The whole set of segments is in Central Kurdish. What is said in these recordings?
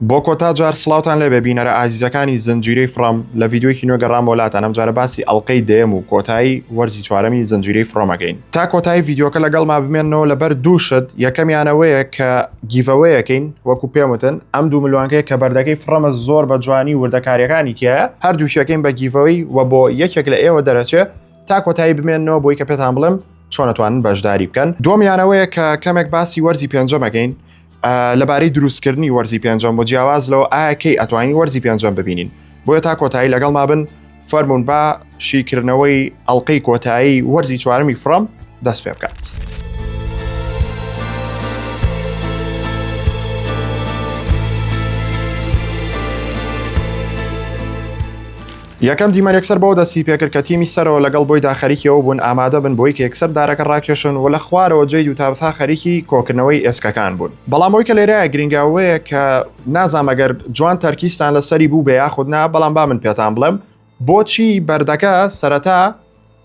بۆ کۆتا جار سڵاوتان لێبێ بینەرە ئازیزەکانی زنجیرەی فڕۆم لە ڤیددیوەکی نوێ گەڕام وەلاتان ئەم جارە باسی ئەڵلقەی دەیەم و کۆتایی وەرزی چوارەمی زنجیرەی فڕۆمەکەین تا کۆتایی ڤیددیوکە لەگەڵ ما بمێنەوە لەبەر دوو شت یەکەمیانەوەیە کە گیڤەوەیەکەین وەکو پێموتن ئەم دوو ملوانکەیە کە بەردەکەی فڕەمە زۆر بە جوانی وردەکاریەکانی تایە هەردووشەکەین بە گیڤەوەی و بۆ یەکێک لە ئێوە دەرەچێ تا کۆتایی بمێنەوە بۆی کە پێتان بڵێم چۆنەتوانن بەشداری بکەن دومیانەوەیە کە کەمێک باسی وەرزی پێنجەمەکەین لەبارەی دروستکردنی وەرزی پێنجەم بۆ جیاواز لەوە ئایا کەی ئەتوانین وەرزی پێنجەم ببینین بۆیە تا کۆتایی لەگەڵ مابن فەرمونون با شیکردنەوەی ئەڵلقەی کۆتایی وەرزی چوارمی فڕم دەست پێ بکات. یەکەم دیمەن یەکسەر بەوە دەستی پێکرد کە تیمی سەرەوە لەگەڵ بۆیدا خەریکی ئەوە بوون ئامادە بن بۆی کە یەکسەر دارەکە ڕاکێشن و لە خوارەوە جەید و تابثا خەریکی کۆکردنەوەی ئێسکەکان بوون بەڵام ئەوی کە لێرەیە گرینگە ئەوەیە کە نازانم ئەگەر جوان تەرکیزتان لەسەری بوو بێ یاخود نا بەڵام با من پێتان بڵێم بۆچی بەردەکە سەرەتا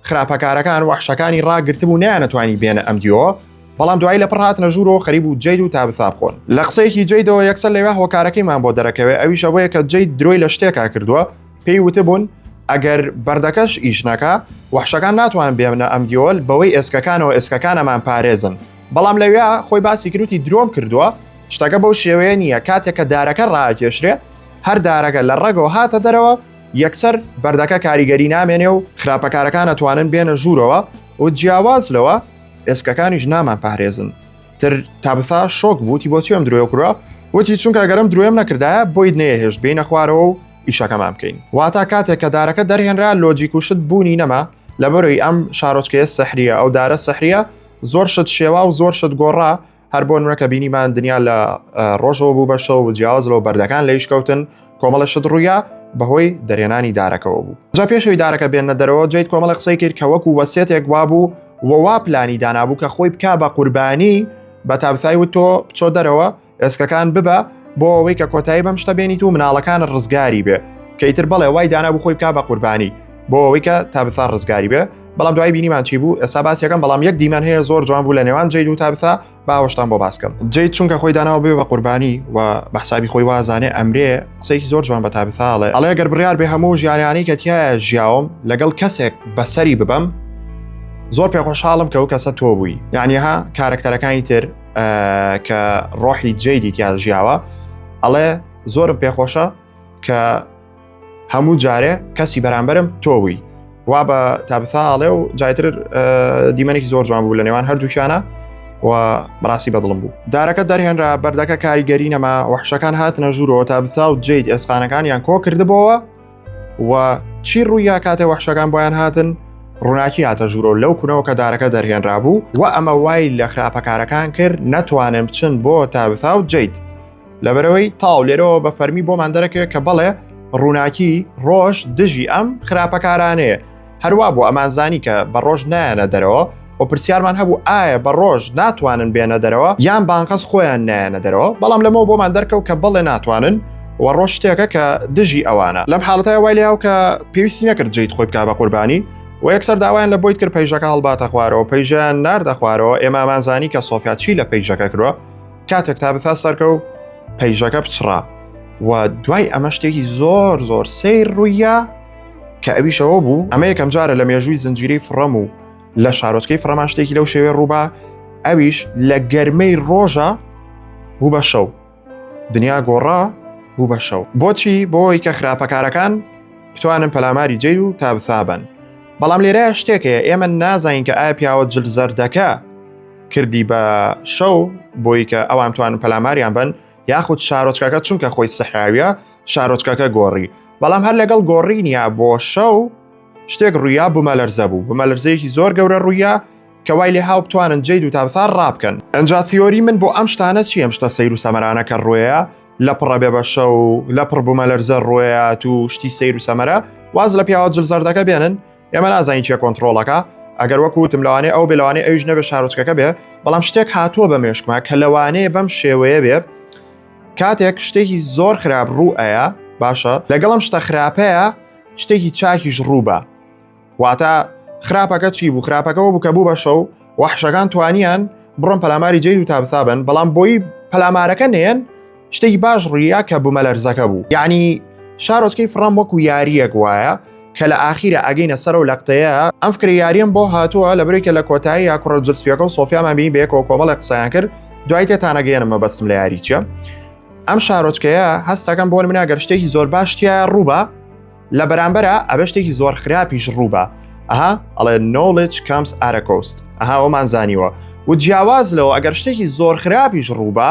خراپەکارەکان وەحشەکانی ڕاگرتبوو نیانەتوانی بێنە ئەم دیۆ بەڵام دوایی لە پڕهاتنە ژوورەوە خەریب و جەید و تا بساب خۆن لە قسەیەکی جەیدەوە یەکسەر لەوێ هۆکارەکەیمان بۆ دەرەکەوێ ئەویش ئەوەیە کە جەید درۆی لە شتێکا کردووە پێی وتبوون ئەگەر بەردەکەش ئیش نەکە وەحشەکان ناتوان بێمنە ئەم دیۆل بەوەی ئێسکەکانەوە ئێسکەکانەمان پارێزن بەڵام لەوێ خۆی باسی کروتی درۆم کردووە شتەکە بەو شێوەیە نییە کاتێک کە دارەکە ڕاکێشرێ هەر دارەکە لە ڕێگەوە هاتە دەرەوە یەکسەر بەردەکە کاریگەری نامێنێ و خراپەکارەکان ئەتوانن بێنە ژوورەوە و جیاواز لەوە ئێسکەکانیش نامان پارێزن تر تابسا شۆک بووتی بۆ چێم درۆ کوڕە وتی چونکە گەرم درۆێم نەکردایە بۆیت نەیەهێشت بینە خوارەوە و ئیشەکەمان بکەین واتا کاتێک کە دارەکە دەرهێنرا لۆجیک و شت بوونی نەما لەبەرەوەی ئەم شارۆچکەیە سەحریە ئەو دارە سەحریە زۆر شت شێوا و زۆر شت گۆڕا هەر بۆ نوێکە بینیمان دنیا لە ڕۆژەوە بوو بە شەو و جیاواز لەو بەردەکان لە یشکەوتن کۆمەڵە شت ڕوویە بەهۆی دەرێنانی دارەکەەوە بوو جا پێشوی دارەکە بێنە دەرەوە جیت کۆمەڵە قسەی کرد کە وەکو وەسێتێک وا بوو وەوا پلانی دانابوو کە خۆی بک بە قوربانی بە تابسای و تۆ بچۆ دەرەوە ئێسکەکان ببە بۆ ئەوەی کە کۆتایی بەم شتە بێنیت و مناڵەکان ڕزگاری بێ کەیتر بەڵێ وای دانا بخۆی بک بە قوربانی بۆ ئەوەی کە تابسا ڕزگاری بێ بەڵام دوای بینیمان چی بوو ئێستا باسیەکەم بەڵام یەک دیمان هەیە زۆر جوان بوو لە نێوان جیل و تابسا باوەشتان بۆ باسکەم جیت چونکە خۆی داناوە بێ بە قوربانی و بەحسابی خۆی وازانێ ئەمرێ قسەیەکی زۆر جوان بە تابثاڵێ ئەڵێ گەر بڕیار بێ هەموو ژیانیانی کە تایە ژیاوم لەگەڵ کەسێک بەسەری ببەم زۆر پێخۆشحاڵم کە و کەسە تۆ بووی یانیها کارکتەرەکانی تر کە ڕۆحی جێدی تیا ژیاوە ئەڵێ زۆرم پێخۆشە کە هەموو جارێ کەسی بەرامبەرم تۆ بووی وا بە تابثاڵێ و جایتر دیمەنێکی زۆر جوان بوو لە نێوان هەردووکیانە و بەڕاستی بەدڵم بوو دارەکە دەرهێنرا بەردەکە کاریگەری نەما وحشەکان هاتنە ژوورەوە تا بسا و جیت ئێسقانەکانیان کۆ کردبەوە و چی ڕوویا کاتێ وحشەکان بۆیان هاتن ڕووناکی هاتە ژوورۆ لەو کونەوە کە دارەکە دەرهێنرا بوو و ئەمە وای لە خراپەکارەکان کرد نەتوانن بچن بۆ تا بسا و جیت لەبەرەوەی تاو لێرەوە بە فەرمی بۆمان دەرەکەوێت کە بەڵێ ڕووناکی ڕۆژ دژی ئەم خراپەکارانەیە هەروە بۆ ئەمانزانی کە بە ڕۆژ نایەنە دەرەوە و پرسیارمان هەبوو ئایا بە ڕۆژ ناتوانن بێنە دەرەوە یان بانقەس خۆیان نایەنە دەرەوە بەڵام لەمەوە بۆمان دەرکەوت کە بەڵێ ناتوانن و ڕۆژ شتێکە کە دژی ئەوانە لەم حاڵەتای وای لەیاو کە پێویستی نەکرد جیت خۆی بکە بە قوربانی و یەکسەر داوایان لە بۆیت کرد پەیژەکە هەڵباتە خوارەوە پەیژیان ناردە خوارەوە ئێمامانزانی کە سۆفیاچی لە پەیژەکە کردوە کاتێک تا بتا سەرکە و پەیژەکە بچڕا و دوای ئەمە شتێکی زۆر زۆر سیر ڕوویە کە ئەویشەوە بوو ئەمە یەکەم جارە لە مێژووی زنجیری فڕەم و لە شارۆچکەی فڕەمان شتێکی لەو شێوێ ڕووبا ئەویش لە گەرمەی ڕۆژە بوو بە شەو دنیا گۆڕا بوو بە شەو بۆچی بۆی کە خراپەکارەکان بتوانن پەلاماری جێ و تابسابن بەڵام لێرە شتێکەیە ئێمە نازانین کە ئایا پیاوە جل زەردەکە کردی بە شەو بۆی کە ئەوان توانن پەلاماریان بن یاخود شارۆچکەکە چونکە خۆی سەحراویە شارۆچکەکە گۆڕی بەڵام هەر لەگەڵ گۆڕینیا بۆ شەو شتێک ڕوویا بوومە لەرزە بوو بمە لەرزەیەکی زۆر گەورە ڕوویە کە وای لێ هاو بتوانن جێ دوو تابسار ڕابکەن ئەجا تیۆری من بۆ ئەم شتانە چی ئەم شتە سەیر و سەمەرانە کە ڕوەیە لە پڕە بێ بە شەو لە پڕ بوومە لەرزە ڕوەیە تو شتی سیر و سەمەرە واز لە پیاوە جلزەردەکە بێنن ئێمە نازانین چێ کۆنتترۆڵەکە ئەگەر وەکوتم لەوانێ ئەو بلوانێ ئەوش نەبێ شارۆچکەکە بێ بەڵام شتێک هاتووە بە مێشکما کە لەوانەیە بەم شێوەیە بێ کاتێک شتێکی زۆر خراپ ڕوو ئەیە باشە لەگەڵم شتە خراپەیە شتێکی چاکیش ڕووبە واتە خراپەکە چی بوو خراپەکەەوە بوو کە بوو بە شەو وەحشەکان توانیان بڕۆن پەلاماری جێ و تابسابن بەڵام بۆی پەلامارەکە نێن شتێکی باش ڕویە کە بوومەلەرزەکە بوو یعنی شارۆچکەی فڕام وەکو یاریەک وایە کە لە ئاخیرە ئەگەینە سەر و لەقتەیە ئەم فکری یاریەم بۆ هاتووە لە برێکە لە کۆتایی یا کوڕە جرسپیەکە و سۆفیامان بینی بەیەکەوە کۆمەڵی قسەیان کرد دوای تێتانەگەێنم مەبەستم لە یاریچە ئەم شارۆچکەیە هەستەکەم بۆ منە گەر شتێکی زۆر باشتیە ڕووبە لە بەرامبەرە ئەبە شتێکی زۆر خراپیش ڕووبە ئەها ئەڵێ نۆڵج کامس ئارەکۆست ئەها ئەومان زانیوە و جیاواز لەوە ئەگەر شتێکی زۆر خراپیش ڕووبە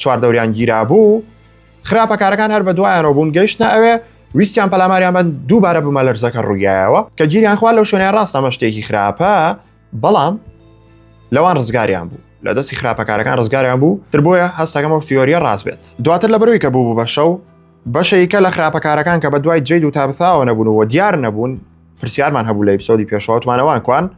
چواردەوریان گیرا بوو خراپەکارەکان هەر بە دوایانەوە بوون گەیشتە ئەوێ ویستیان پەلاماریان بەن دووبارە بمە لەرزەکە ڕوویایەوە کە گیریان خوا لەو شوێنە ڕاستەمە شتێکی خراپە بەڵام لەوان ڕزگاریان بوو لە دەستی خراپەکارەکان ڕزگاریان بوو تر بۆیە هەستەکەمەوە تیۆریە ڕاست بێت دواتر لە بەروی کە بوو بە شەو بەشەیکە لە خراپەکارەکان کە بە دوای جید و تابساوە نەبوون و دیار نەبوون پرسیارمان هەبوو لە ئیپسۆدی پێشوەتمانەوان کوان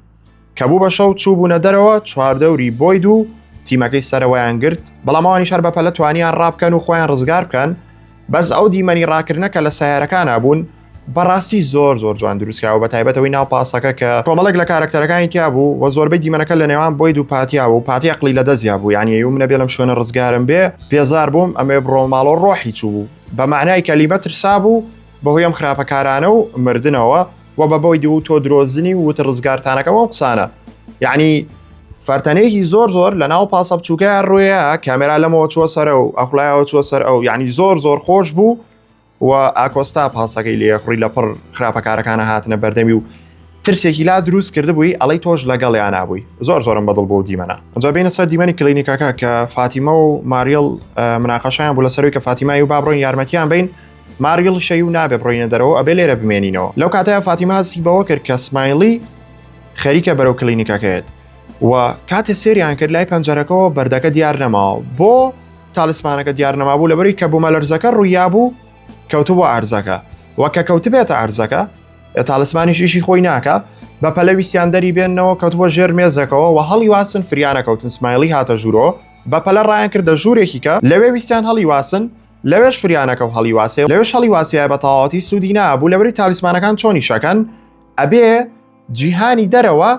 کە بوو بە شەو چووبوونە دەرەوە چواردەوری بۆی دوو تیمەکەی سەرەوەیان گرت بەڵامەوانی شار بەپەلە توانیان ڕابکەن و خۆیان ڕزگار بکەن بەس ئەو دیمەنی ڕاکردنە کە لە سیارەکان بوون بەڕاستی زۆر زۆر جوان دروستکراوە بە تایبەتەوەی ناو پاسەکە کە کۆمەڵک لە کارەکتەرەکانی تیا بوو و زۆربەی دیمەنەکە لە نێوان بۆی دوو پاتیا و پاتی عقلی لە دەستیا بوو یعنی و منە بێلم شوێنە ڕزگارم بێ پێزار بووم ئەمێ بڕۆ ماڵۆ ڕۆحی چوو بوو بە معنای کە لیبە ترسا بوو بەهۆی ئەم خراپەکارانە و مردنەوە و بە بۆی دوو تۆ درۆزنی و وتە ڕزگارتانەکەم ئەو قسانە یعنی فەرتەنێکی زۆر زۆر لە ناو پاسە بچووکە ڕوێە کامێرا لەمەوە چوە سەرە و ئەخلایەوە چوە سەر ئەو یعنی زۆر زۆر خۆش بوو و ئاکۆستا پاسەکەی لێ خوڕی لە پڕ خراپەکارەکانە هاتنە بەردەمی و ترسێکی لا دروست کرد بووی ئەڵی تۆش لەگەڵ یانابووی زۆر زۆرم بەدڵ بۆ دیمەە ئەجا بینە سەر دیمەنی کلینیکەکە کە فاتیمە و ماریل مناقەشیان بوو لە سەروی کە فاتیمای و بابڕۆین یارمەتیان بین ماریڵ شەی و نابێ بڕۆینە دەرەوە ئەبێ لێرە بمێنینەوە لەو کاتەیە فاتیمە هەستی بەوە کرد کە سمایلی خەریکە بەرەو کلینیکەکەێت و کاتێ سریان کرد لای پەنجەرەکەەوە بەردەکە دیار نەماوە بۆ تاالسمانەکە دیار نەمابوو لەبەری کە بوومە لەرزەکە ڕوویا بوو کەوتبوو ئارزەکە وە کە کەوتبێتە ئارزەکە تاالسمانیش ئیشی خۆی ناکە بە پەلەویستیان دەری بێنەوە کەوتبووە ژێر مێزەکەەوە و هەڵی واسن فریانە کەوتن سمایلی هاتە ژوورۆ بە پەلە ڕایان کردە ژوورێکیکە لەوێ ویستیان هەڵی واسن لەوێش فریانەکەو هەڵی واسێ لەوێش هەڵی واسیە بە تەواوەتی سوودی نابوو لەبری تالیسمانەکان چۆنی شەکەن ئەبێ جیهانی دەرەوە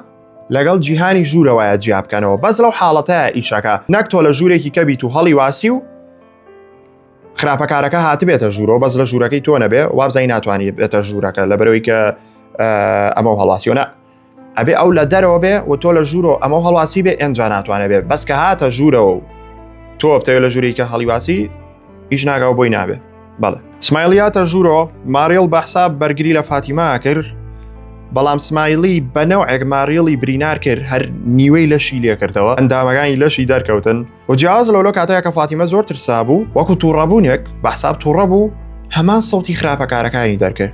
لەگەڵ جیهانی ژوورەوەە جیا بکەنەوە بەس لەو حاڵەتە ئیشەکە نەک تۆ لە ژوورێکی کەبیت و هەڵی واسی و خراپەکارەکە هاتبێتە ژوورەوە بەس لە ژوورەکەی تۆ نەبێ وابزای ناتوانانی بێتە ژوورەکە لە بەرەوەی کە ئەمە هەڵاسیۆنە ئەبێ ئەو لە دەرەوە بێ و تۆ لە ژوورۆ ئەمە هەڵواسی بێ ئەجا ناتوانێت بێ بەس کە هاتە ژوورەوە و تۆ بتەوێت لە ژووریکە هەڵیواسی هیچ ناگاو بۆی نابێ بەڵێ سمایلیاتە ژوورۆ ماریڵ بە حساب بەرگری لە فاتیما کرد بەڵام سمایلی بەنەو ئەگماریڵی برینار کرد هەر نیوەی لەشی لێکردەوە ئەندامەکانی لەشی دەرکەوتن و جیاز لەولۆ کاتەیە کە فاتیمە زۆر ترسا بوو وەکو تووڕەبوونێک بە حساب تووڕە بوو هەمان سەوتی خراپەکارەکانی دەرکرد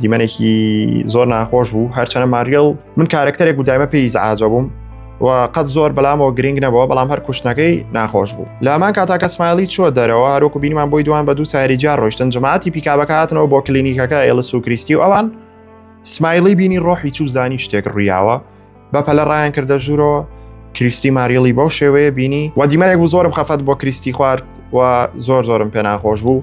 دیمەنێکی زۆر ناخۆش بوو هەرچەنە ماریل من کارکتەرێک و دایمە پێی زعاجە بووم و قەت زۆر بەلامەوە گرنگ نەبەوە بەڵام هەر کوشتنەکەی ناخۆش بوو لامان کاتاکە سمایلی چوە دەرەوە هەروکو بینمان بۆی دوان بە دوو سایری جار ڕۆشتن جماعتی پیکابەکاتنەوە بۆ کلینیکەکە ئێلس و کریستی و ئەوان سمایلی بینی ڕۆحی چوو زانی شتێک ڕیاوە بە پەلە ڕایان کردە ژوورەوە کریستی ماریڵی بەو شێوەیە بینی و دیمەێک بوو زۆرم خەفەت بۆ کریستی خوارد و زۆر زۆرم پێناخۆش بوو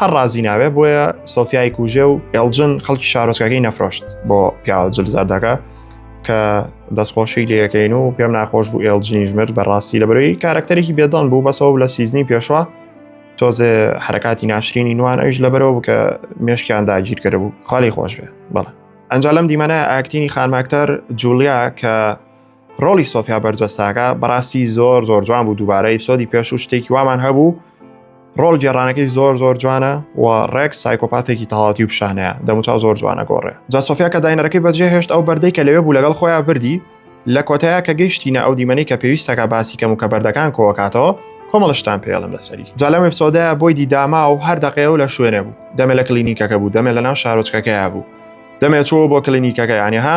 هەر ڕازی ناوێ بۆیە سۆفیای کوژێ و ئێلجن خەڵکی شارۆچکەکەی نەفرۆشت بۆ پیاوە جلزاردەکە کە دەستخۆشی لەکەین و پێم ناخۆش بوو ئێلجنی ژمر بەڕاستی لە بەرەوەی کارکتەرێکی بێدان بوو بەسەوە لە سیزنی پێشوە تۆزێ حرکاتی ناشرینی نوان ئەوش لە بەرەوە بکە مێشکیان داگیر کرد بوو خالی خۆش بێ بەڵێ ئەنجا لەم دیمەە ئاکتینی خانماکتەر جولیا کە ڕۆڵی سۆفیا بەرجەساکە بەڕاستی زۆر زۆر جوان بوو دووبارە ئیپسۆدی پێش و شتێکی وامان هەبوو ڕۆڵ گێڕانەکەی زۆر زۆر جوانە و ڕێک سایکۆپاتێکی تەواتی و پیشانەیە دەموچاو زۆر جوانە گۆڕێ جا سۆفیا کە داینەرەکەی بەجێ هێشت ئەو بەردەی کە لەوێ بوو لەگەڵ خۆیان بردی لە کۆتایە کە گەیشتینە ئەو دیمەنی کە پێویستەکە باسی کەم و کە بەردەکان کۆکاتەوە کۆمەڵشتان پێڵم لەسەری جا لەم ئپسۆدە بۆی دیداما و هەر دەقەیە و لە شوێنە بوو دەمێ لە کلینیکەکە بوو دەمێ لە ناو شارۆچکەکەیا بوو دەمێ چۆ بۆ کلینیکەکە یانەها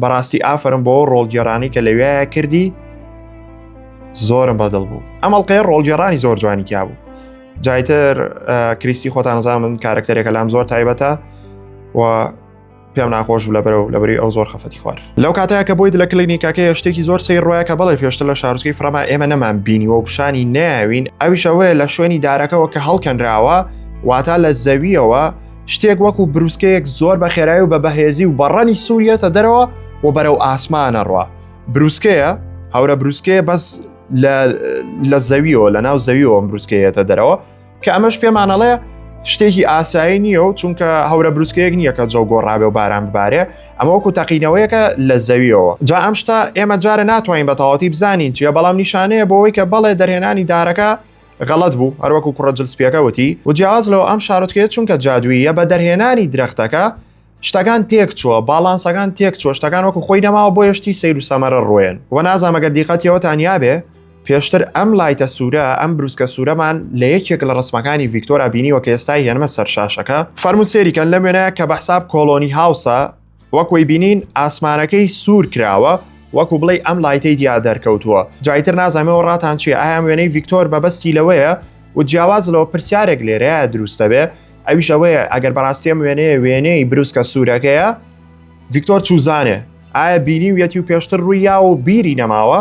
بەڕاستی ئافرم بۆ ڕۆڵگێڕانی کە لەوێە کردی زۆرم بەدڵ بوو ئەمەڵقەیە ڕۆڵگێڕانی زۆر جوانی تیا بوو جایتر کریستی خۆتانزان من کارکتەرێکە لام زۆر تایبەتە و پێم ناخۆش بوو لە بەرەو لە بەری ئەو زۆر خەفەتی خوار لەو کاتەیە کە بۆی لە کلینیکەکە شتێکی زۆر سەیر ڕایە کە بەڵێ پێشتر لە شارچکەی فرەما ئێمە نەمان بینیوە و پیشانی ناوین ئەویشەوەی لە شوێنی دارەکەەوە کە هەڵکەنراوە واتا لە زەویەوە شتێک وەکو بروسکەیەک زۆر بە خێرای و بە بەهێزی و بەڕەنی سووریەتە دەرەوە و بەرەو ئاسمانە ڕوە بروسکەیە هەورە بروسکەیە بەس لە زەویەوە لە ناو زەویەوە بروسکەیەتە دەرەوە کە ئەمەش پێمانەڵەیە شتێکی ئاسایی نییە و چونکە هەورە بروسکەیەک نییە کە جەو گۆڕابێ و باران ببارێ ئەمە وەکو تەقینەوەیەکە لە زەویەوە جا ئەم شتا ئێمە جارە ناتوانین بە تەواتی بزانین چیە بەڵام نیشانەیە بۆەوەی کە بەڵێ دەرهێنانی دارەکە غەڵەت بوو هەروەکو کوڕە جل سپیەکە وتی و جیاواز لەوە ئەم شارۆچکەیە چونکە جادوویە بە دەرهێنانی درەختەکە شتەکان تێک چووە باڵانسەکان تێک چۆ شتەکان وەکو خۆی نەماوە بۆ یشتی سیر و سەمەرە ڕۆێن و نازانمەگە دیقەتیەوە تانیا بێ پێشتر ئەم لایتە سوورە ئەم بروسکە سوورەمان لە یەکێک لە ڕسمەکانی ڤیکتۆرا بینیوە کە ئێستای هێنمە سەرشاشەکە فەرموسێریکەن لە وێنەیە کە بەحساب کۆلۆنی هاوسە وەکۆی بینین ئاسمانەکەی سوور کراوە وەکو بڵێ ئەم لایتەی دیا دەرکەوتووە جایتر نازانەوە ڕاتان چی ئایان وێنەی ڤیکتۆر بەبستی لەوەیە و جیاواز لەوە پرسیارێک لێرەیە دروستەبێ ئەویش ئەوەیە ئەگەر بەڕاستیم وێنەیە وێنەی بروسکە سوورەکەیە ڤیکتۆر چوزانێ ئایا بینی و یەتی و پێشتر ڕووی یا و بیری نەماوە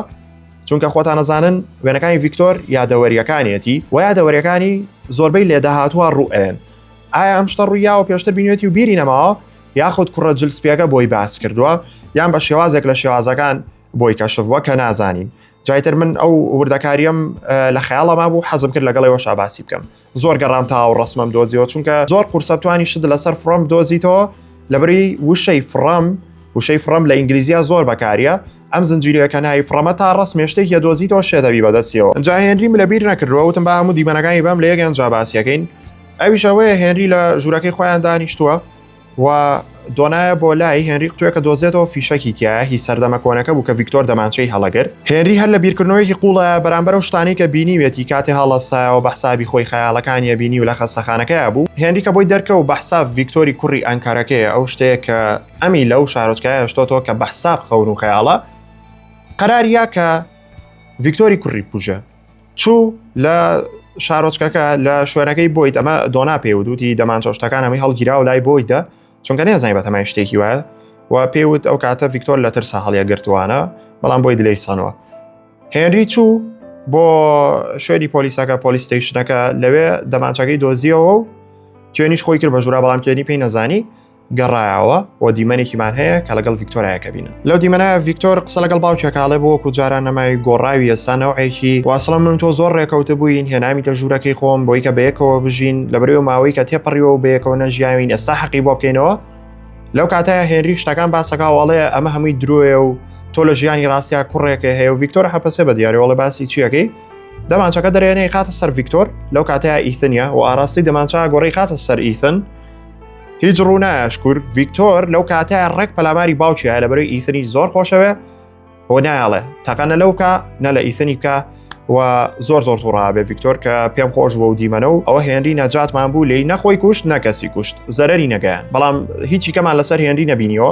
چونکە خۆتان نەزانن وێنەکانی ڤیکتۆر یادەوەریەکانیەتی و یادەوەریەکانی زۆربەی لێداهاتوە ڕوئێن ئایا ئەم شتە ڕوویاوە پێشتر بینێتی و بیری نەماوە یاخود کوڕە جل سپیەکە بۆی باس کردووە یان بە شێوازێک لە شێوازەکان بۆی کەشفوە کە نازانین جایتر من ئەو وردەکاریم لە خیاڵەما بوو حەزم کرد لەگەڵەوە شاباسی بکەم زۆر گەڕام تا و ڕسمم دۆزیەوە چونکە زۆر قورسەتوانی شت لەسەر فڕم دۆزیتەوە لەبری وشەی فڕم وشەی فڕم لە ئینگلیزیا زۆر بەکاریە ئەم زنجیرەکە ناوی فڕەمە تا ڕسمێ شتێک یە دۆزیتەوە شێدەبی بەدەستیەوە جاهێنریم لەبیر نەکردەوە وتم با هەموو دیمەنەکانی بەم لە یەکیان جاباسیەکەین ئەویش ئەوەیە هێنری لە ژوورەکەی خۆیان دانیشتووە و دۆنایە بۆ لای هێنری قوتوێکە دۆزێتەوە فیشەکی تایە هی سەردەمە کۆنەکە بوو کە ڤیکتۆر دەمانچەی هەڵەگر هێنری هەر لە بیرکردنەوەیەکی قوڵە بەرامبەر و شتانی کە بینیوێتی کاتێ هەڵەسایەوە بە حسابی خۆی خەیاڵەکانیە بینی و لە خەستەخانەکەی بوو هێنری کە بۆی دەرکە و بەحساب ڤیکتۆری کوڕی ئەنکارەکەی ئەو شتەیە کە ئەمی لەو شارۆچکایە شتۆتەوە کە بەحساب خەون و خەیاڵە قەراریە کە ڤیکتۆری کوڕی پوژە چوو لە شارۆچکەکە لە شوێنەکەی بۆیت ئەمە دۆنا پێودوتی دەمانچەشتەکان ئەمەی هەڵگیرا و لای بۆیتە چونکە نێزای بە تەمای شتێکی وایە و پێوت ئەو کاتە ڤیکتۆر لە ترسا هەڵیە گرتوانە بەڵام بۆی دلەی سانەوە هێنری چوو بۆ شوێنی پۆلیسەکە پۆلیستیشنەکە لەوێ دەمانچەکەی دۆزیەوە و توێنیش خۆی کرد بە ژورا بەڵام توێنی پێی نەزانی گەڕایەوە و دیمەنێکیمان هەیە کە لەگەڵ ڤیکتۆرایەکە بینن لەو دیمەنایە ڤیکتۆر قسە لەگەڵ باوکێکاڵێ بۆ وەکو جاران نەمای گۆڕاوی ئێستا نەوەیەکی واسڵە من تۆ زۆر ڕێکەوتە بووین هێنامی تە ژوورەکەی خۆم بۆی کە بەیەکەوە بژین لە بەرەوە ماوەی کە تێپەڕیەوە بەیەکەوە نەژیاوین ئێستا حەقی بۆ بکەینەوە لەو کاتایە هێنری شتەکان باسەکەواڵەیە ئەمە هەمووی درۆیە و تۆ لە ژیانی ڕاستیا کوڕێکە هەیە و ڤیکتۆر حەپەسێ بە دیارەوەڵە باسی چیەکەی دەمانچەکە دەرێنەی خاتە سەر ڤیکتۆر لەو کاتەیە ئیثنیا و ئاراستی دەمانچە گۆڕی خاتە سەر ئیثن هیچ ڕوونایە شکور ڤیکتۆر لەو کاتەیە ڕێک پەلاماری باوکیە لە بەرەی ئیثنی زۆر خۆشەوێ بۆ نایڵێ تەقەنە لەوکە نە لە ئیثنی بکە و زۆر زۆر توڕابێ ڤیکتۆر کە پێم خۆش بۆ و دیمەنە و ئەوە هێنری نەجاتمان بوو لی نەخۆی کوشت نەکەسی کوشت زەرری نەگەیان بەڵام هیچی کەمان لەسەر هێنری نەبینیەوە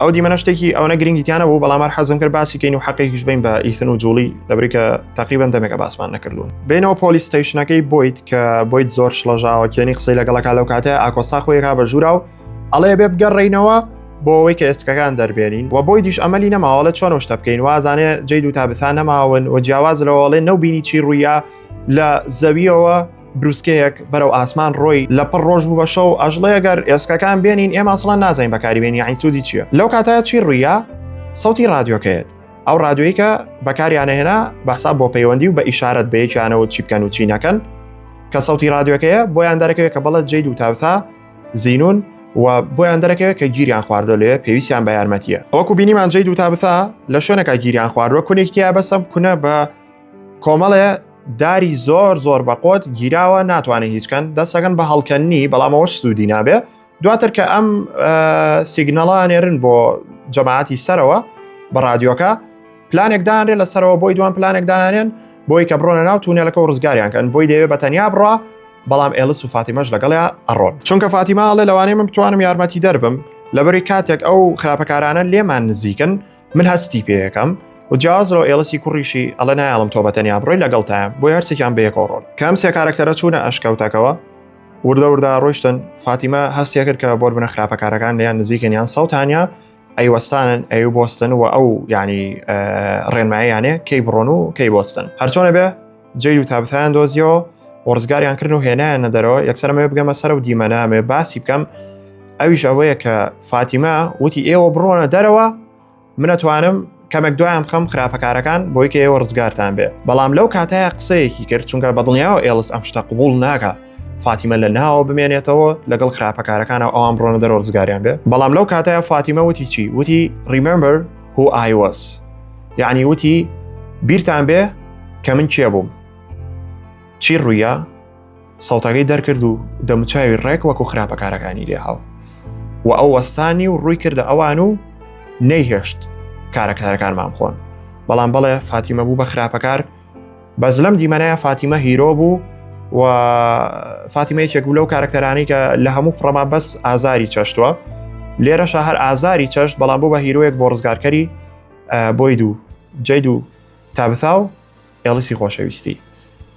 ئەو دیمەە شتێکی ئەوە گرنگی تیانە بوو بەڵامار حەزم کرد باسی کەین و حەقێکیش بین بە ئیثن و جوڵی لەبریکە تقریبان دەمێکە باسمان نەکردوون بینەوە پۆلیستەیشنەکەی بۆیت کە بۆیت زۆر شڵەژاوە کێنی قسەی لەگەڵەکە لەو کاتە ئاکۆسا خۆیرا بە ژوورا و ئەڵێ بێ بگەڕینەوە بۆ ئەوەی کە ئێستکەکان دەربێنین و بۆی دیش ئەمەلی نەماوەڵە چۆن شتە بکەین وازانێ جێ دوو تا بتان نەماون و جیاواز لەوەڵێ نەو بینی چی ڕوویە لە زەویەوە بروسکەیەک بەرەو ئاسمان ڕۆی لە پڕ ڕۆژ بوو بە شەو ئەژڵێ گەر ئێسکەکان بێنین ئێمە ئەسڵان نازین بەکاری بێنی یعنی سوودی چییە لەو کاتە چی ڕویە سەوتی ڕادیۆکەیەت ئەو ڕادیۆی کە بەکاریانەهێنا بەسا بۆ پەیوەندی و بە ئیشارەت بەیەکیانەوە چی بکەن و چی نەکەن کە سەوتی ڕادیۆکەیە بۆیان دەرەکەوێت کە بەڵەت جێ دوو تاوتا زینون و بۆیان دەرەکەوێت کە گیریان خواردۆ لێ پێویستیان بە یارمەتیە ئەوکو بینیمان جێ دوو تابتا لە شوێنەکە گیریان خواردوە کونێکتیا بەسەم کونە بە کۆمەڵێ داری زۆر زۆر بەقۆت گیراوە ناتوانێت هیچکەن دەستەکەن بە هەڵکەنی بەڵام ئەوەش سوودی نابێ دواتر کە ئەم سیگنەڵانێرن بۆ جەماعەتی سەرەوە بە رادیۆکە پلانێک دانرێ لە سەرەوە بۆی دوان پلانێک دانێن بۆی کە بڕۆنە ناو تونێلەکە و ڕزگاریان کەن بۆی دەوێت بە تەنیا بڕە بەڵام ئێلس و فاتیمەش لەگەڵە ئەڕۆن چونکە فاتیماڵێ لەوانەیە من بتوانم یارمەتی دەربم لەبەری کاتێک ئەو خراپەکارانە لێمان نزیکن من هەستی پێەکەم و جیاز لەو ئێڵسی کوڕیشی ئەڵە نایڵم تۆ بە تەنیا بڕۆی لەگەڵتایە بۆ هەرچێکیان بەیەکۆڕۆن کەم سێ کارەکتەرە چوونە ئەشکەوتەکەەوە وردە وردە ڕۆشتن فاتیمە هەستێ کرد کە بۆر بنە خراپەکارەکان لیان نزیکن یان سەوتانیا ئەیوەستانن ئەو بستن و ئەو ینی ڕێنمایانێ کەی بڕۆن و کەی بستن هەرچۆنە بێ جێی و تابتیان دۆزیەوە وەرزگاریان کردن و هێنایان نەدەرەوە یەکسەرمەوە بگەمە سەر و دیمەنامێ باسی بکەم ئەویش ئەوەیە کە فاتیمە وتی ئێوە بڕۆنە دەرەوە منەتوانم کەمێک دوایان خەم خراپەکارەکان بۆی کە ئێوە ڕزگارتان بێ بەڵام لەو کاتەیە قسەیەکی کرد چونکە بە دڵنیاوە ئێڵس ئەم شتە قوبول ناکە فاتیمە لە ناوە بمێنێتەوە لەگەڵ خراپەکارەکانە ئەوان بڕۆنە دەرۆ ڕزگاریان بێ بەڵام لەو کاتەیە فاتیمە وتی چی وتی ریمەمبەر هو ئای وەس یعنی وتی بیرتان بێ کە من کێ بووم چی ڕوویە سەڵتەکەی دەرکرد و دەموچاوی ڕێک وەکو خراپەکارەکانی لێ هاو و ئەو وەستانی و ڕووی کردە ئەوان و نەیهێشت کارەکارەکانمان خۆن بەڵام بەڵێ فاتیمە بوو بە خراپەکار بەس لەم دیمەنەیە فاتیمە هیرۆ بوو و فاتیمە یەکێک بوو لەو کارکتەرانی کە لە هەموو فڕەما بەس ئازاری چەشتووە لێرەشە هەر ئازاری چەشت بەڵام بۆ بە هیرۆیەک بۆ ڕزگارکەری بۆی دوو جی دوو تابثا و ئێڵیسی خۆشەویستی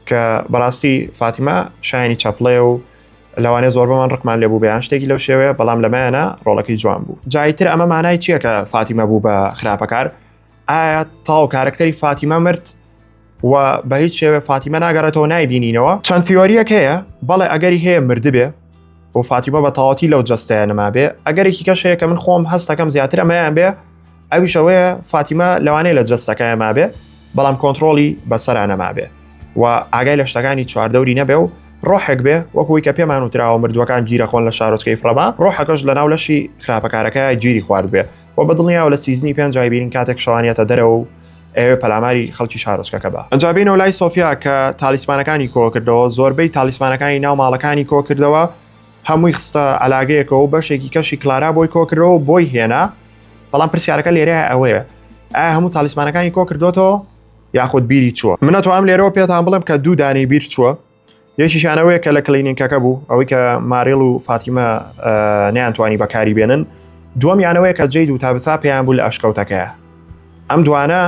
کە بەڕاستی فاتیمە شایانی چەپڵێ و لەوانێ زۆر بەمان ڕقمان لێ بوو بەیان شتێکی لەو شێوەیە بەڵام لەمایانە ڕۆڵەکەی جوان بوو جایتر ئەمە مانای چییە کە فاتیمە بوو بە خراپەکار ئایا تاو کارەکتەری فاتیمە مرد و بە هیچ شێوێ فاتیمە ناگەڕێتەوە نایبینینەوە چەند فیۆریەک هەیە بەڵێ ئەگەری هەیە مردبێ و فاتیمە بە تاواتی لەو جستەیە نما بێ ئەگەرێکی کەش هەیە کە من خۆم هەستەکەم زیاتر ئەمەیان بێ ئەویشەوەیە فاتیمە لەوانەیە لە جستەکەیان مابێ بەڵام کۆنتترۆلی بەسەران نەمابێ و ئاگای لە شتەکانی چواردەوری نەبێ و ڕۆحێک بێ وەکوی کە پێمان وتراوە مردووەکان گیرەخۆن لە شارۆچکەی فڕەما ڕۆحەکەش لە ناو لەشی خراپەکارەکە گیری خوارد بێ و بە دڵنیاوە لە سیزنی پێنج جایبیرین کاتێک شەوانیەتە دەرەوە و ئەوێ پەلاماری خەڵکی شارۆچکەکە بە ئەجابینەوە لای سۆفیا کە تالیسمانەکانی کۆکردەوە زۆربەی تالیسمانەکانی ناو ماڵەکانی کۆکردەوە هەمووی خستە علاگەیەکەوە و بەشێکی کەشی کلارا بۆی کۆکرەوە بۆی هێنا بەڵام پرسیارەکە لێرە ئەوەیە ئایا هەموو تالیسمانەکانی کۆکردوێتەوە یاخود بیری چووە منە تو ئەم لێرەوە پێتان بڵم کە دوو دانەی بیر چووە یەکیشانەوەیە کە لە کلینینکەکە بوو ئەوەی کە ماریل و فاتیمە نیانتوانی بەکاری بێنن دووەم یانەوەیە کە جید و تابسا پێیان بوو لە ئەشکەوتەکەیە ئەم دوانە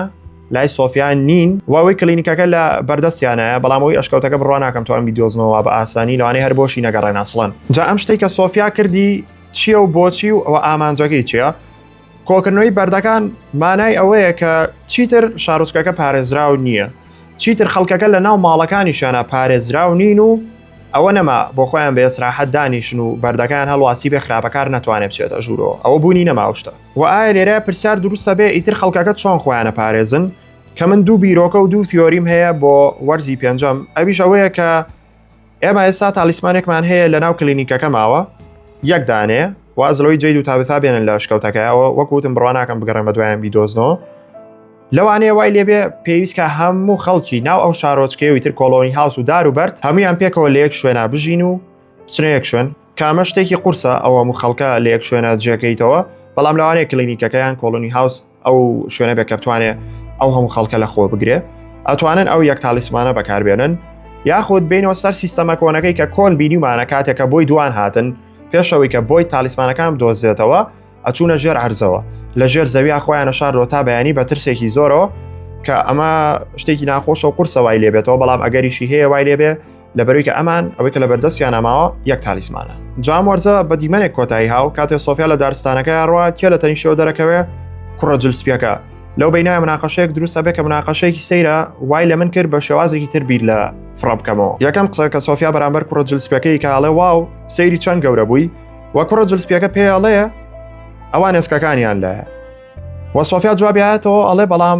لای سۆفیان نین واوەی کلینیکەکە لە بەردەستیانایە بەڵامەوەی ئەشکەوتەکە بڕوا ناکەم توان بیدۆزنەوە بە ئاسانی لەوانەیە هەر بۆشی نەگەڕێناسڵەن جا ئەم شتێکە سۆفیا کردی چییە و بۆچی و ئەوە ئامانجەکەی چیە کۆکردنەوەی بەردەکان مانای ئەوەیە کە چیتر شارۆچکەکە پارێزراو نییە چیتر خەڵکەکە لە ناو ماڵەکانیشانە پارێزراو نین و ئەوە نەما بۆ خۆیان بە ئێسراحەت دانیشن و بەردەکان هەڵواسی بێ خراپەکار ناتوانێت بچێتە ژوورۆ ئەوە بوونی نەماوشتە و ئایا لێرە پرسیار دروستە بێ ئیتر خەڵکەکە چۆن خۆیانە پارێزن کە من دوو بیرۆکە و دوو فیۆریم هەیە بۆ وەرزی پێنجەم ئەویش ئەوەیە کە ئێمە ئێستا تالیسمانێکمان هەیە لە ناو کلینیکەکە ماوە یەک دانێ وازلەوەی جید و تابتا بێنن لە شکەوتەکەیەوە وەکوتم بڕواناکەم بگەڕێن بە دوایان بیدۆزنەوە لەوانەیە وای لێبێ پێویستکە هەموو خەڵکی ناو ئەو شارۆچکەوی تر کۆلۆنی هاوس و دار و بەرد هەمویان پێکەوە لە یەک شوێنا بژین و بچنەیەک شوێن کامە شتێکی قورسە ئەوە و خەڵکە لە یەک شوێنە جێکەیتەوە بەڵام لەوانەیە کلینیکەکەیان کۆلۆنی هاوس ئەو شوێنە بێ کە بتوانێ ئەو هەموو خەڵکە لە خۆ بگرێ ئەتوانن ئەو یەک تالیسمانە بەکاربێنن یاخود بینەوە سەر سیستەمە کۆنەکەی کە کۆن بینیمانە کاتێکە بۆی دوان هاتن پێشەوەی کە بۆی تالیسمانەکان دۆزێتەوە ئەچوونە ژێر عرزەوە لە ژێر زەویا خۆیانە شارۆ تا بەیانی بە ترسێکی زۆرەوە کە ئەمە شتێکی ناخۆشە و قورسە وای لێبێتەوە بەڵام ئەگەریشی هەیە وای لێبێ لەبەروی کە ئەمان ئەوەی کە لە بەردەستیانە ماوە یەک تالیسمانە جام وەرزە بە دیمەنێک کۆتایی هاو کاتێ سۆفیا لە دارستانەکە ڕوا کێ لە تەنیشەوە دەرەکەوێ کوڕە جل سپیەکە لەو بینای مناقەشەیەک دروستە بێ کە مناقەشەیەکی سەیرە وای لە من کرد بە شێوازێکی تر بیر لە فڕە بکەمەوە یەکەم قسە کە سۆفیا بەرامبەر کوڕە جل سپەکەی کاڵێ واو سەیری چەند گەورە بووی وە کوڕە جل سپیەکە پێڵەیە ئەوان ئێسکەکانیان لایە وە سۆفیا جوابیایەتەوە ئەڵێ بەڵام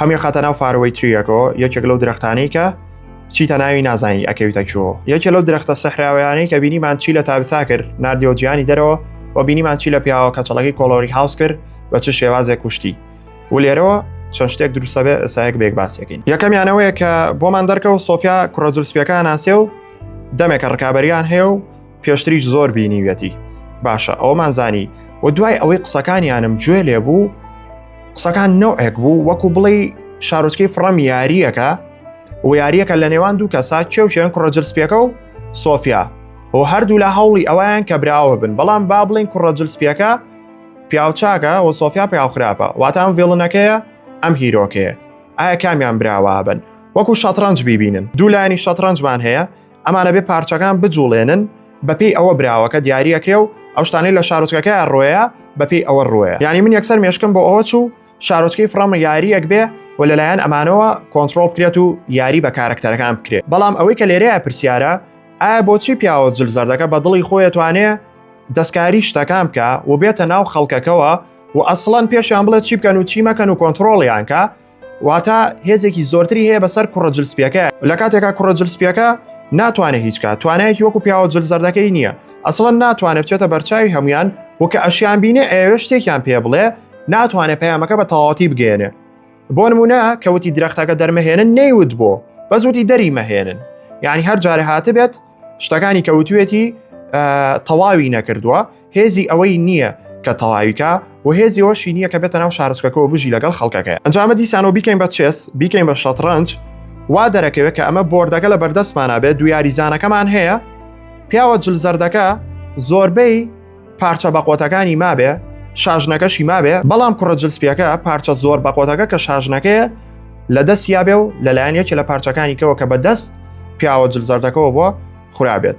هەمی خاتە ناو فارەوەی تریەکۆ یەکێک لەو درختانەی کە چیتە ناوی نازانی ئەکەویتە چۆ یەکێ لەو درختە سەحراویانەی کە بینیمان چی لە تابسا کرد نردیەوە جیانی دەرەوە و بینیمان چی لە پیاوە کەچەڵەکەی کۆڵۆری هاوس کرد بە چ شێوازێک کوشتی و لێرەوە چەند شتێک دروستە بێ ئەسایەک بێک باسیەکەین یەکەمیانەوەیە کە بۆمان دەرکەوە سۆفیا کوڕەجل سپیەکان ناسێ و دەمێکە ڕکابەریان هەیە و پێشتریش زۆر بینیویەتی باشە ئەومان زانی و دوای ئەوەی قسەکانیانم گوێ لێ بوو قسەکان نەوەک بوو وەکو بڵێ شارۆچکەی فڕەم یاریەکە و یاریەکە لە نێوان دوو کەسا کێوچێن کوڕەجلسپیەکە و سۆفیا و هەردوو لە هەوڵی ئەویان کە براوە بن بەڵام با بڵین کوڕەجلسپیەکە پیاوچاکە و سۆفیا پیاو خراپە واتان ڤێڵنەکەیە ئەم هیرۆکەیە ئایا کامیان براوە بن وەکو شەترەنج ببینن دوولانی شەترەنجمان هەیە ئەمانە بێ پارچەکان بجوڵێنن بەپی ئەوە براوەکە دیارەکرێ و ئەو شتانی لە شارۆچکەکە ڕۆیە بەپی ئەوە ڕۆیە ینی من یەکسەر مێشکم بۆ ئەوە چوو شارۆچکەی فڕامە یاریەک بێ و لەلایەن ئەمانەوە کۆنتترۆل بکرێت و یاری بە کارەکتەرەکان بکرێت بەڵام ئەوەی کە لێرەیە پرسیارە ئایا بۆچی پیاوە جل زەردەکە بە دڵی خۆی توانێ دەستکاری شتەکان بکە و بێتە ناو خەڵکەکەەوە و ئەسڵەن پێشیان بڵێت چی بکەن و چی مەکەن و کۆنتترۆڵیانکە واتە هێزێکی زۆرتری هەیە بەسەر کوڕە جلسپیەکە لە کاتێکا کوڕە جلسپیەکە ناتوانێت هیچکە توانایەکی وەکو پیاوە جلزەردەکەی نییە ئەسڵەن ناتوانێت بچێتە بەرچاوی هەمویان وکە ئەشیان بینێ ئەوێ شتێکیان پێ بڵێ ناتوانێت پەیامەکە بە تەواتی بگەێنێ بۆ نمونە کەوتی درەختەکە دەرمەهێنن نەیوت بۆ بەس وتی دەری مەهێنن یعنی هەر جارە هاتبێت شتەکانی کەوتوێتی تەواوی نەکردووە هێزی ئەوەی نییە کە تەواویکە و هێزی ئەوشی نییە کە بێتە ناو شارچکەکەەوە بژی لەگەڵ خەڵکەکەی ئەنجامە دیسانەوە بیکەین بە چێس بیکەین بە شەتڕەنج وا دەرەکەوێت کە ئەمە بردەکە لە بەردەستمانە بێت دو یاریزانەکەمان هەیە پیاوە جل زەردەکە زۆربەی پارچە بەقۆتەکانی مابێ شاژنەکەشی مابێ بەڵام کوڕە جلسپیەکە پارچە زۆر بەقۆتەکە کە شاژنەکەیە لە دەست یابێ و لەلایەن یەکی لە پارچەکانی کەەوە کە بە دەست پیاوە جلزەردەکەەوە بۆ خورابێت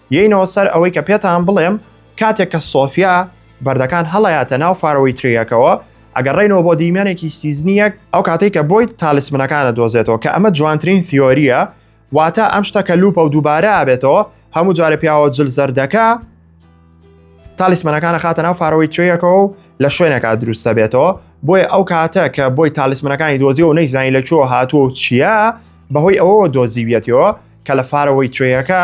یەینەوە سەر ئەوەی کە پێتان بڵێم کاتێک کە سۆفیا بەردەکان هەڵەیاتە ناو فارەوەی تریەکەوە ئەگەر ڕێنەوە بۆ دیمەنێکی سیزنیەک ئەو کاتێک کە بۆی تالیسمنەکانە دۆزێتەوە کە ئەمە جوانترین فیۆریە واتە ئەم شتەکە لوپە و دووبارە ئابێتەوە هەموو جارە پیاوە جل زەردەکە تالیسمەنەکانە خاتە ناو فارەوەی تریەکەەوە و لە شوێنەکە دروستە بێتەوە بۆیە ئەو کاتە کە بۆی تالیسمەکانی دۆزی و نەیزانی لە چۆ هاتووە و چییە بەهۆی ئەوەوە دۆزیویەتەوە کە لە فارەوەی توێیەکە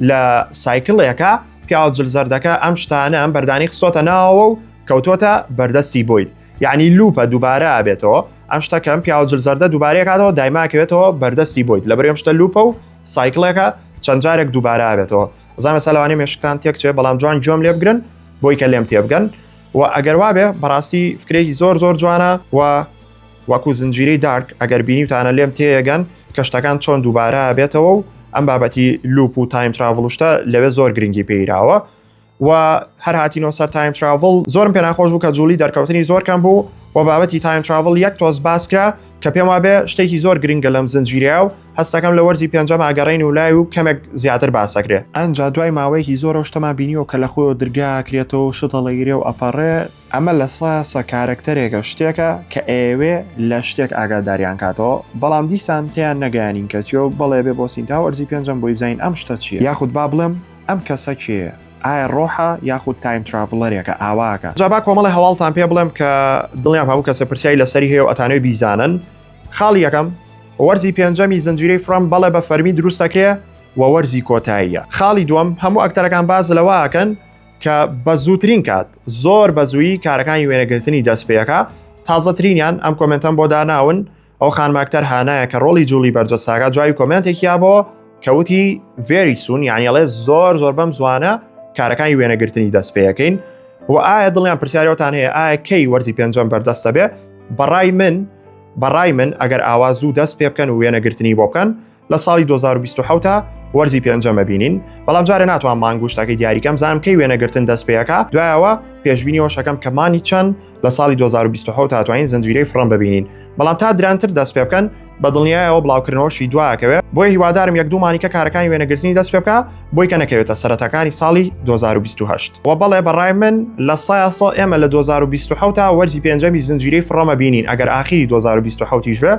لە سایکلێکە پیاو جلزەردەکە ئەم شتانە ئەم بەردانی خستۆتە ناوەوە و کەوتۆتە بەردەستی بۆیت یعنی لوپە دووبارە بێتەوە ئەم شتەکەم پیاو جلزەردە دووبارەکاتەوە دایماکەوێتەوە بەردەستی بۆیت لە برێم شتە لوپە و سایکلێکە چەند جارێک دووبارە بێتەوە زانە سەلوانی مێشکتان تێکچێ بەڵام جوان جۆم لێ بگرن بۆی کە لێم تێبگەن و ئەگەر وابێ بەڕاستی فکرێکی زۆر زۆر جوانە و وەکو زنجیرەی دارک ئەگەر بینیوتانە لێم تێیەگەن کە شتەکان چۆن دووبارە بێتەوە و ئەم بابەتی لوپ و تایم تراڤڵشتە لەوێ زۆر گرنگی پێیراوە و هەر هاتینەوە سەر تایم تراڤڵ زۆرم پێ ناخۆش بوو کە جوڵی دەرکەوتنی زۆر کەم بوو و بابەتی تایم تراڤڵ یەک تۆز باسکرا کە پێم وابێ شتێکی زۆر گرنگە لەم زنجیریا و هەستەکەم لە وەرزی پێنجەم ئاگەڕین و لای و کەمێک زیاتر باسەکرێ ئەنج دوای ماوەیەکی زۆرە شتەما بینیەوە کە لە خۆی درگاکرێتەوە شتەڵەگیرێ و ئەپەڕێ ئەمە لە سە سە کارەکتەرێکە شتێکە کە ئەیەوێ لە شتێک ئاگاداریان کاتەوە بەڵام دیسان پێیان نەگەیانین کەچیەوە بەڵێ بێ بۆ سینتا وەرزی پێنجەم بۆی بزانین ئەم شتە چیە یاخود با بڵێم ئەم کەسە کێیە ئایا ڕۆحە یاخود تایم تراڤڵەرێکە ئاواکە جا با کۆمەڵی هەواڵتان پێ بڵێم کە دڵنیام هەموو کەسێ پرسیاری لەسەری هەیە و ئەتانەوێ بیزانن خاڵی یەکەم وەرزی پێنجەمی زنجیرەی فرۆم بەڵێ بە فەرمی دروست دەکرێ و وەرزی کۆتاییە خاڵی دووەم هەموو ئەکتەرەکان باس لەوە ئەکەن کە بە زووترین کات زۆر بە زوویی کارەکانی وێنەگرتنی دەست پێەکە تازەترینیان ئەم کۆمنتەم بۆ داناون ئەو خانماکتەر هانایە کە ڕۆڵی جوڵی بەرزە ساگا جوای کۆمنتێکیا بۆ کەوتی ڤێری سون یانیڵێ زۆر زۆر بەم زوانە کارەکانی وێنەگرتنی دەست پێەکەین و ئایا دڵیان پرسیارەوەتان هەیە ئایا کەی وەرزی پێنجەم بەردەستە بێ بەڕای من بەڕای من ئەگەر ئاوا زوو دەست پێ بکەن و وێنەگرتنی بۆ بکەن لە ساڵی 2027 تا وەرزی پێنجەمە بینین بەڵام جارە ناتوان مانگوشتەکەی دیاریکەم زانم کەی وێنەگرتن دەست پێەکە دوایەوە پێشببینیەوە شەکەم کە مانی چەند لە ساڵی 2020 تاتوانین زنجیرەی فڕم ببینین بەڵام تا درانتر دەست پێ بکەن بە دڵنیایەوە بڵاوکردنەوەشی دوواکەوێت بۆی هیوادارم یەک دوومانیکە کارەکانی وێنەگرتنی دەست پێ بکە بۆی کە نەکەوێتە سەرەتاکانی ساڵی 2028 و بەڵێ بەڕای من لە سایاسا ئێمە لە 2020 تا وەرزی پێنجەمی زنجیرەی فڕەمە بینین ئەگەر ئاخیری 2020 بێ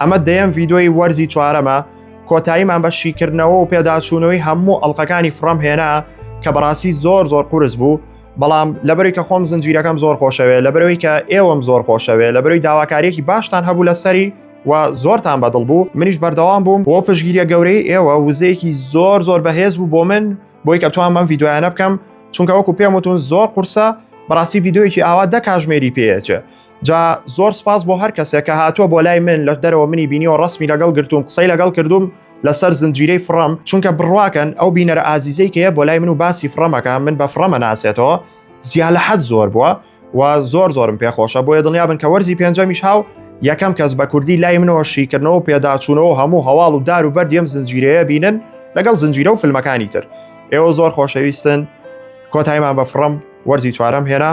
ئەمە دەیەم ڤیدۆی وەرزی چوارەمە کۆتاییمان بە شیکردنەوە و پێداچوونەوەی هەموو ئەڵلقەکانی فڕەم هێنا کە بەڕاستی زۆر زۆر قورس بوو بەڵام لەبەری کە خۆم زنجیرەکەم زۆر خۆشەوێ لەبەرەوەی کە ئێوەم زۆر خۆشەوێ لەبەروی داواکاریەکی باشتان هەبوو لەسەری و زۆرتان بەدڵ بوو منیش بەردەوام بووم بۆ پشگیریە گەورەی ئێوە وزەیەکی زۆر زۆر بەهێز بوو بۆ من بۆی کە توان بەم یددیویانە بکەم چونکە وەکو پێم وتون زۆر قورسە بەڕاستی یددیوەکی ئاوا دە کاژمێری پێچێ جا زۆر سپاس بۆ هەر کەسێک کە هاتووە بۆ لای من لە دەرەوە منی بینیەوە ڕسمی لەگەڵ گرتووم قسەی لەگەڵ کردوم لەسەر زنجیرەی فڕم چونکە بڕواکەن ئەو بینەرە ئازیزەی کەیە بۆ لای من و باسی فڕەمەکە من بە فڕەمە ناسێتەوە زیاد لە حەز زۆر بووە و زۆر زۆرم پێخۆشە بۆیە دڵنیا بن کە وەرزی پێنجەمیش هاو یەکەم کەس بە کوردی لای منەوە شیکردنەوە پێداچوونەوە هەموو هەواڵ و دار و بەردیم زنجیرەیە بینن لەگەڵ زنجیرە و فیلمەکانی تر ئێوە زۆر خۆشەویستن کۆتایمان بە فڕم وەرزی چوارەم هێنا